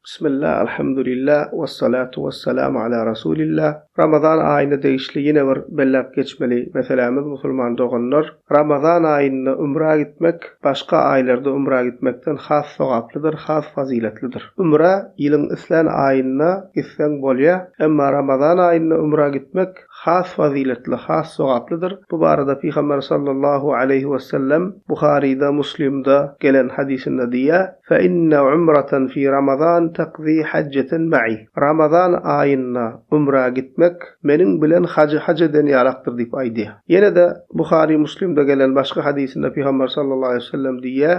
Bismillah Alhamdulillah Wassalatu Wassalam Ala Rasulillah Ramazan aýyna degişli ýene bir belläp geçmeli meselämiz musulman doganlar Ramazan aýynda ümrä gitmek başga aýlarda ümrä gitmekden has sogaplydyr has fazyletlidir ümrä ýylyň islän aýynda gitseň bolýa emma Ramazan aýynda ümrä gitmek has fazyletli, has sogaplydyr. Bu barada Pygamber sallallahu aleýhi wesellem Buharyda, Muslimde gelen hadysynda diýýär, Fe inne umratan fi Ramazan takzi hajjatan ma'i. Ramazan aýynda umra gitmek meniň bilen hajy haj eden ýalakdyr diýip aýdýar. Ýene-de Buhary, Muslimde gelen başga hadysynda Pygamber sallallahu aleýhi wesellem diýýär,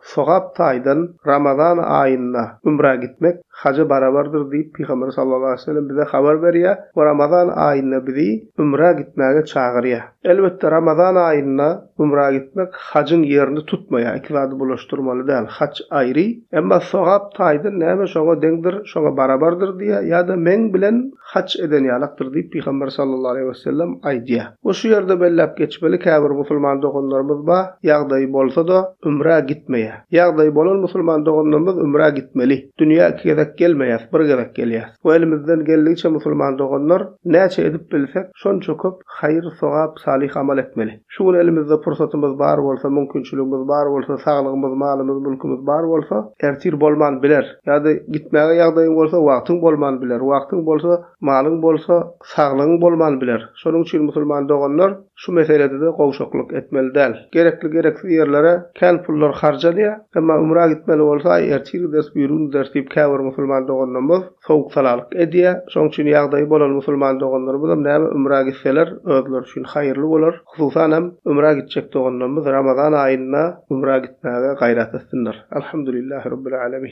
Sogap taýdan Ramazan aýynda ümrä gitmek haja barabardyr diýip Pygamberimiz sallallahu aleýhi we sellem bize habar berýär we Ramazan aýynda bizi ümrä gitmäge çagyrýar. Elbetde Ramazan aýynda ümrä gitmek hajyň ýerini tutmaýar, iki zady bulaşdyrmaly däl, haj aýry, emma sogap taýdan näme şoňa deňdir, şoňa barabardyr diýýär ýa-da meň bilen haç eden ýalakdyr diýip, Pygamber sallallahu aleýhi we sellem aýdýar. Bu şu ýerde belläp geçmeli, käbir musulman doganlarymyz bar, ýagdaýy bolsa-da, ümrä gitmeýär. Ýagdaýy bolan musulman doganlarymyz ümrä gitmeli. Dünýä iki gezek gelmeýäs, bir gezek gelýäs. Bu elimizden geldigiçe musulman doganlar, näçe edip bilsek, şonça köp haýyr-sogap, salyh amal etmeli. Şu gün elimizde pursatymyz bar bolsa, mümkinçiligimiz bar bolsa, saglygymyz, malymyz, mülkimiz bar bolsa, ertir bolman biler. Ýa-da gitmäge ýagdaýyň bolsa, wagtyň bolman biler. Wagtyň bolsa, malyň bolsa, saglygyň bolman biler. Şonuň üçin musulman doganlar şu meselede-de gowşaklyk etmeli däl. Gerekli-gereksiz ýerlere kän pullar harjalýar. Emma ümra gitmeli bolsa, aý, ertir gideris, bu ýyl unders diýip, käbir musulman doganlarymyz sowuk-salalyk edýär. Şonuň üçin ýagdaýy bolan musulman doganlarymyzam näme ümra gitseler, özleri üçin haýyrly bolar. Hususan hem ümra gitjek doganlarymyz Ramazan aýynda ümra gitmäge gaýrat etsinler. Alhamdulillah Rabbil Alamin.